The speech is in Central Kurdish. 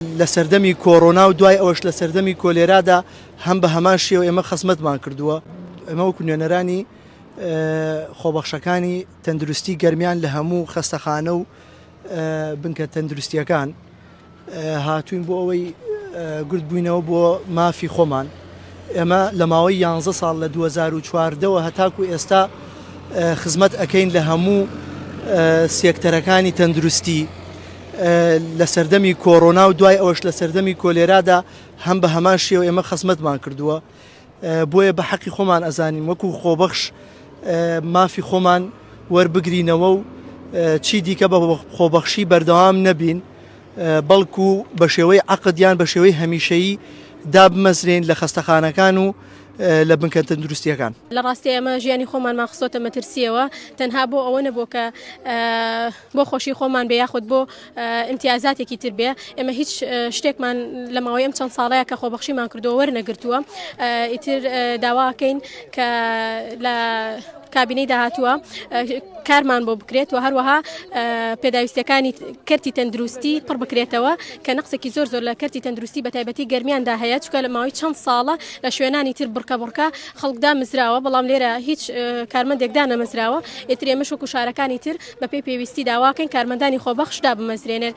لە سەردەمی کۆرۆنا و دوای ئەوەش لە سەردەمی کۆلێرادا هەم بە هەمان شێوە ئێمە خزمەتمان کردووە. ئێمە وەکو نوێنەرانی خۆبەخشەکانی تەندروستی گەرمیان لە هەموو خەستەخانە و بنکە تەندروستیەکان هاتووین بۆ ئەوەی گرد بووینەوە بۆ مافی خۆمان. ئێمە لە ماوەی یانزە ساڵ لە 2014ەوە هەتاکو ئێستا خزمەت ئەکەین لە هەموو سێکتەرەکانی تەندروستی. لە سەردەمی کۆرۆنا و دوای ئەوەش لە سەردەمی کۆلێرادا هەم بە هەمان شێوە ئێمە خزمەتمان کردووە بۆیە بە حەقی خۆمان ئەزانین وەکو خۆبەخش مافی خۆمان وەربگرینەوە و چی دیکە بە خۆبەخشی بەردەوام نەبین بەڵکو بە شێوەی عقدیان بە شێوەی هەمیشەیی دابمەزرێن لە خەستەخانەکان و لە بنکە تەندروستیەکان لە ڕاستی ئەمە ژیانی خۆمانمان خستۆتە مەترسیەوە تەنها بۆ ئەوە نەبوو کە بۆ خۆشی خۆمان بێ یاخود بۆ ئیمتیازاتێکی تر بێ ئێمە هیچ شتێکمان لە ماوەی ئەم چەند ساڵەیە کە خۆبەخشیمان کردو وەرنەگرتووە ئیتر داواکەین کە لە کابینەی داهاتووە کارمان بۆ بکرێت و هەروەها پێداویستەکانی کەرتی تەندروستی پڕ بکرێتەوە کە نقصێکی زۆر زۆر لە کەرتی تەندروستی بە تایبەتی گەرمیاندا هەیە چکە لە ماوەی چەند ساڵە لە شوێنانی تر بڕکە بڕکە خەڵکدا مزراوە بەڵام لێرە هیچ کارمەندێکدا نەمەزراوە ئێترێمە شوک و شارەکانی تر بەپێی پێویستی داواکەین کارمەندانی خۆبەخش دابمەزرێنێت.